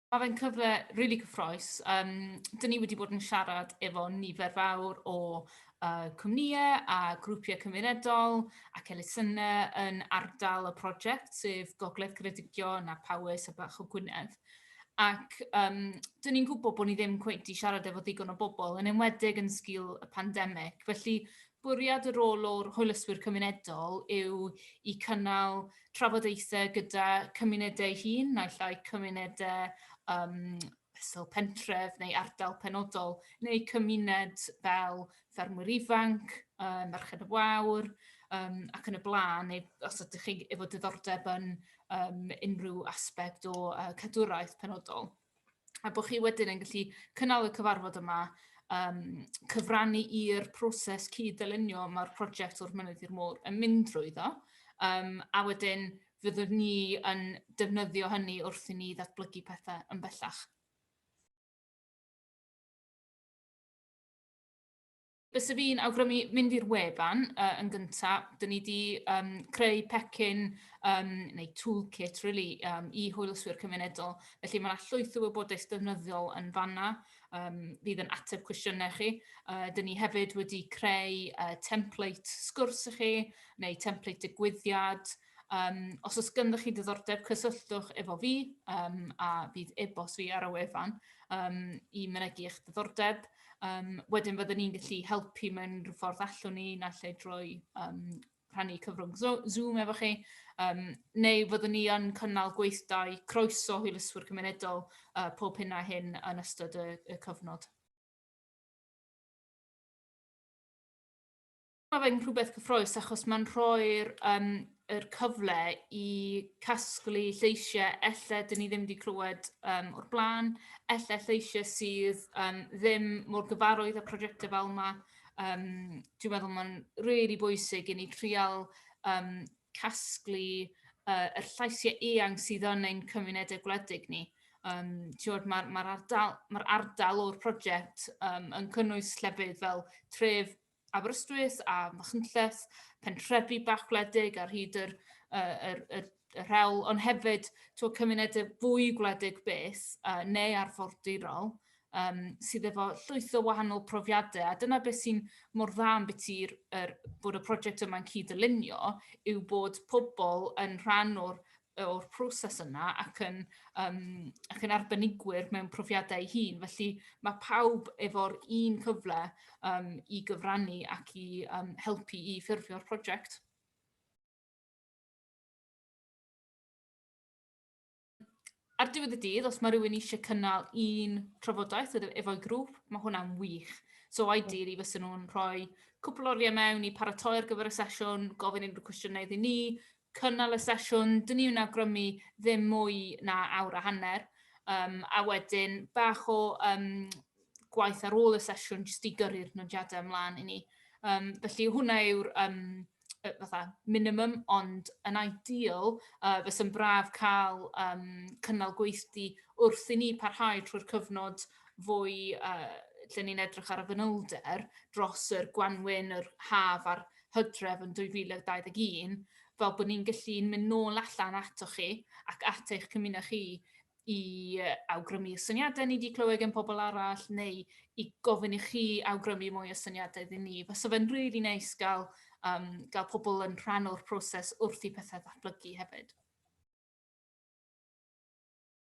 Mae fe'n cyfle rili cyffrous. Yym, dyn ni wedi bod yn siarad efo nifer fawr o uh, cwmnïau a grwpiau cymunedol ac elusennau yn ardal y prosiect, sef Gogledd Ceredigion a Powys a Bach o Gwynedd. Ac yym, dan ni'n gwybod bod ni ddim cweit 'di siarad efo ddigon o bobl, yn enwedig yn sgil y pandemig. Felly, bwriad y rôl o'r hwylyswyr cymunedol yw i cynnal trafodaethau gyda cymunedau hun, naill ai cymunedau um, fesul pentref neu ardal penodol, neu cymuned fel ffermwyr ifanc, um, merched y wawr, um, ac yn y blaen, neu os ydych chi efo diddordeb yn um, unrhyw aspect o uh, cadwraeth penodol. A bod chi wedyn yn gallu cynnal y cyfarfod yma, um, cyfrannu i'r proses cyd-dylunio mae'r prosiect o'r mynydd i'r môr yn mynd drwy ddo, um, a wedyn fyddwn ni yn defnyddio hynny wrth i ni ddatblygu pethau yn bellach. Bysa fi'n awgrymu mynd i'r wefan uh, yn gyntaf. Dyn ni wedi um, creu pecyn um, neu toolkit really, um, i hwylswyr cymunedol. Felly mae yna llwyth o wybodaeth defnyddiol yn fanna um, fydd yn ateb cwestiynau chi. Uh, dyn ni hefyd wedi creu uh, template sgwrs i chi neu template digwyddiad. Um, os oes gyda chi diddordeb, cysylltwch efo fi um, a bydd e-bost fi ar y wefan um, i mynegu eich diddordeb. Um, wedyn fydden ni'n gallu helpu mewn rhyw ffordd allwn ni, na lle drwy um, rhannu cyfrwng Zoom efo chi, um, neu fyddwn ni yn cynnal gweithdai croeso hwylyswyr cymunedol uh, pob hyn a hyn yn ystod y, y cyfnod. Mae fe'n rhywbeth cyffroes achos mae'n rhoi'r um, er cyfle i casglu lleisiau elle dyn ni ddim wedi clywed um, o'r blaen, elle lleisiau sydd um, ddim mor gyfarwydd â prosiectau fel yma. Um, dwi'n meddwl mae'n rili really bwysig i ni trial um, casglu uh, yr llaisiau eang sydd yn ein cymunedau gwledig ni. Um, Mae'r ma, ma ardal, ma ardal o'r prosiect um, yn cynnwys llefydd fel tref Aberystwyth a Machynlleth, pentrefi bach gwledig ar hyd yr, uh, yr, yr, yr rhewl, ond hefyd twa, cymunedau fwy gwledig beth uh, neu arfordirol um, sydd efo llwyth o wahanol profiadau. A dyna beth sy'n mor dda am beth i'r er, bod y prosiect yma'n cyd-dylunio yw bod pobl yn rhan o'r o'r proses yna ac yn, um, ac yn arbenigwyr mewn profiadau ei hun. Felly mae pawb efo'r un cyfle um, i gyfrannu ac i um, helpu i ffurfio'r prosiect. Ar diwedd y dydd, os mae rhywun eisiau cynnal un trafodaeth efo'i grŵp, mae hwnna'n wych. So ideally, fysa nhw'n rhoi cwpl oriau mewn i paratoi ar gyfer y sesiwn, gofyn unrhyw cwestiynau iddyn ni, cynnal y sesiwn, dyn ni yn awgrymu ddim mwy na awr a hanner, um, a wedyn bach o um, gwaith ar ôl y sesiwn jyst i gyrru'r nodiadau ymlaen i ni. Um, felly hwnna yw'r um, fatha minimum, ond yn ideal, uh, fes yn braf cael um, cynnal gweithdi wrth i ni parhau trwy'r cyfnod fwy uh, lle ni'n edrych ar y fanylder dros yr gwanwyn, yr haf a'r Hydref yn 2021, fel bod ni'n gallu mynd nôl allan ato chi ac at eich cymuned chi i awgrymu y syniadau ni wedi clywed gen pobl arall neu i gofyn i chi awgrymu mwy o syniadau iddyn ni. Fysa fe'n rili really neis nice gael, um, gael pobl yn rhan o'r proses wrth i pethau ddatblygu hefyd.